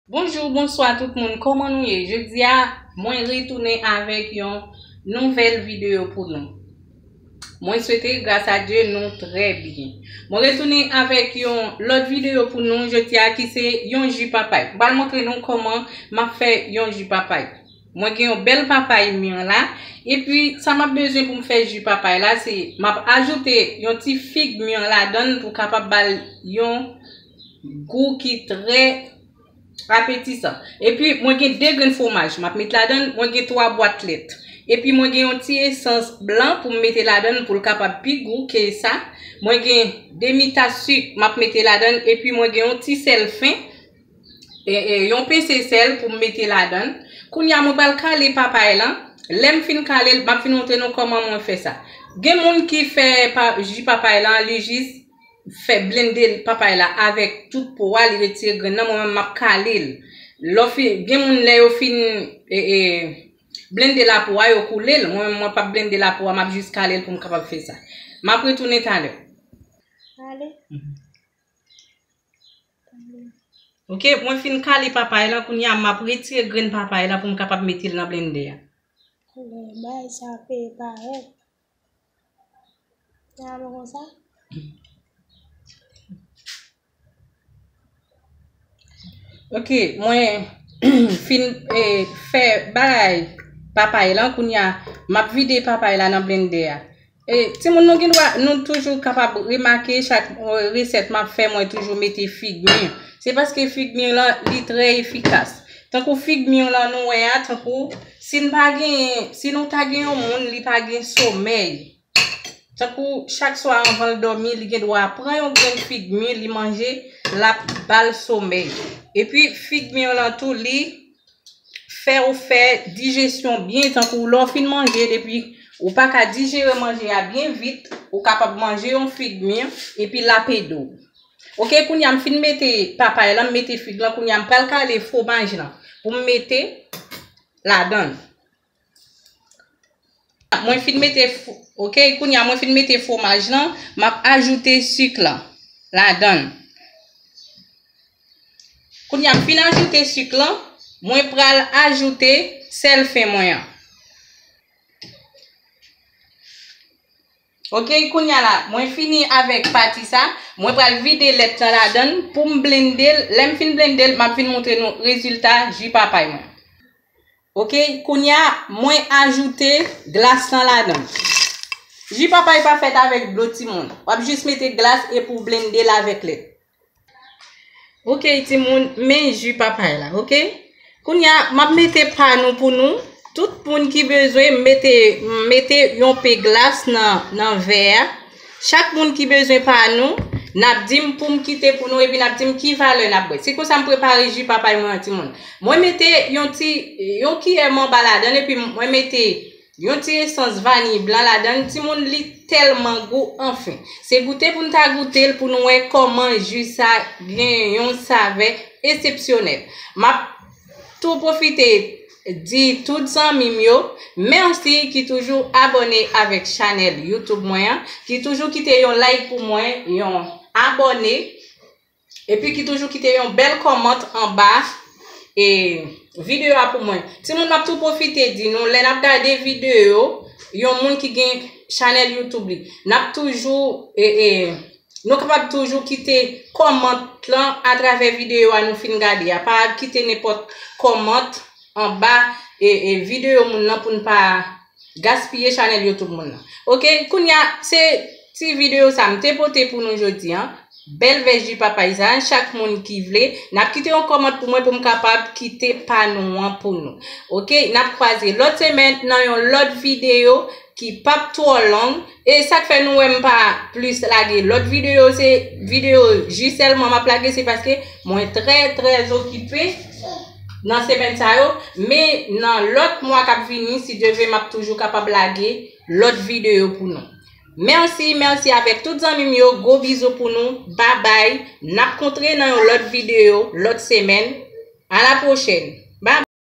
Bonjour bonswa tout moun koman nou ye jodia mwen retounen avèk yon nouvèl video pou nou mwen swete gras a Dieu nou trè byen mwen retounen avèk yon lòt video pou nou jodia ki se yon ju papay mwen pral montre nou koman map fè yon ju papay mwen gen yon bèl papay mûr la epi sa map bezwen pou m fè ju papay la se map ajoute yon ti fig mûr ladann pou kapab bal yon gou ki trè apetisan. E pi mwen gen 2 grenn fwomaj m ap met ladan l, mwen gen 3 bwat lèt. E pi mwen gen yon ti esans blan pou m mete ladan l pou l kapab pi gou ke sa. Mwen gen demi tas sik m ap mete ladan l e pi mwen gen yon ti sèl fen, yon pese sèl pou m mete ladan l. Kounye a mwen pral kale papay lan, lè m fin kale l m ap vin montre nou kòman mwen fè sa. Gen moun ki fè ji papay lan li jis. fè blende papay la avèk tout po a li retire grenn nan mwen menm map kalel lò fin gen moun lè yo fin e e blende la po a yo koulel mwen menm mwen pap blende la po a map jis kalel poum kapab fè sa map retounen talè ale ok mwen fin kale papay la kounya map retire grenn papay la poum kapab metel nan blende a. Lè bay sa pe parèt. Sa bon konsa? Ok, mwen fin e, fè bagay papay lan kounya map vide papay la nan blende a. E, ti moun nou gen dwa, nou toujou kapab remake chak resèt map fè mwen toujou mete fig mi. Se paske fig mi lan li trè efikas. Tankou fig mi lan nou wè a, tankou. Si n pa genyen, si nou ta gen yon moun li pa gen somèy, tankou chak swa anvan l dòmi li gen dwa pran yon grenn fig mi li manje l ap ba l somèy. Epi fig mi yo lan tou li fè ou fè dijesyon byen tankou lè w fin manje depi ou pa ka dijere manje a byen vit, ou kapab manje yon fig mi epi l ap ede w. Ok kounya m fin mete papay lan m mete fig lan kounya m pral kale fwomaj lan pou m mete ladann mwen fin mete ok kounya mwen fin mete fwomaj lan m ap ajoute sik lan ladann kounya m fin ajoute sik lan mwen pral ajoute sèl fen mwen an. Ok kounya la mwen fini avèk pati sa, mwen pral vide lèt lan ladann poum blendel, lèm fin blendel map vin moutre nou rezilta ji papay mwen. Ok kounya mwen ajoute glas lan ladann. Ji papay pa fèt avèk dlo timoun, wap jis mete glas epi ou blendel avèk lèt. Ok timoun, men ju papay la, ok? Kounya map mete pa nou pou nou. Tout moun ki bezwen mete mete yon pe glas nan nan vè a. Chak moun ki bezwen pa nou, nap di m pou m kite pou nou epi nap di m ki valè nap bwe. Se konsa m prepare ju papay mwen an timoun. Mwen mete yon ti yon kiyè manba ladan l epi mwen mete Yon ti esans vaniy blan ladann timoun li telman gou anfen. Se goute poun ta goutel poun wè koman ju sa gen yon savè esepsyonèl. Map tou pwofite di tout zanmim yo merci ki toujou abone avek chanel youtube mwen an, ki toujou kite yon like pou mwen, yon abone Epi ki toujou kite yon bèl kòmant anba e videyo a pou mwen. Timoun map tou pwofite di nou lè nap gade videyo yon moun ki gen chanèl YouTube li. Nap toujou e e nou kapab toujou kite kòmant lan atravè videyo a nou fin gade a. Pa kite nenpòt kòmant anba e e videyo moun lan pou n pa Gaspiye chanel youtube moun nan. Ok kounya se ti video sa m te pote pou nou jodi an. Bèl vèj di pa payizan chak moun ki vle nap kite yon kòmant pou mwen pou m kapab kite pa nou an pou nou. Ok nap kwaze lòt semèn nan yon lòt video ki pap twò long. E sak fè nou wè m pa plis lage lòt videyo se videyo ji sèlman map lage se paske mwen trè trè okipe nan semèn sa yo men nan lòt mwa kap vini si Dye ve map toujou kapab lage lòt videyo pou nou. Mèsi mèsi avèk tout zanmi m yo gwo bizou pou nou babay nap kontre nan yon lòt videyo lòt semèn a la pwochèn.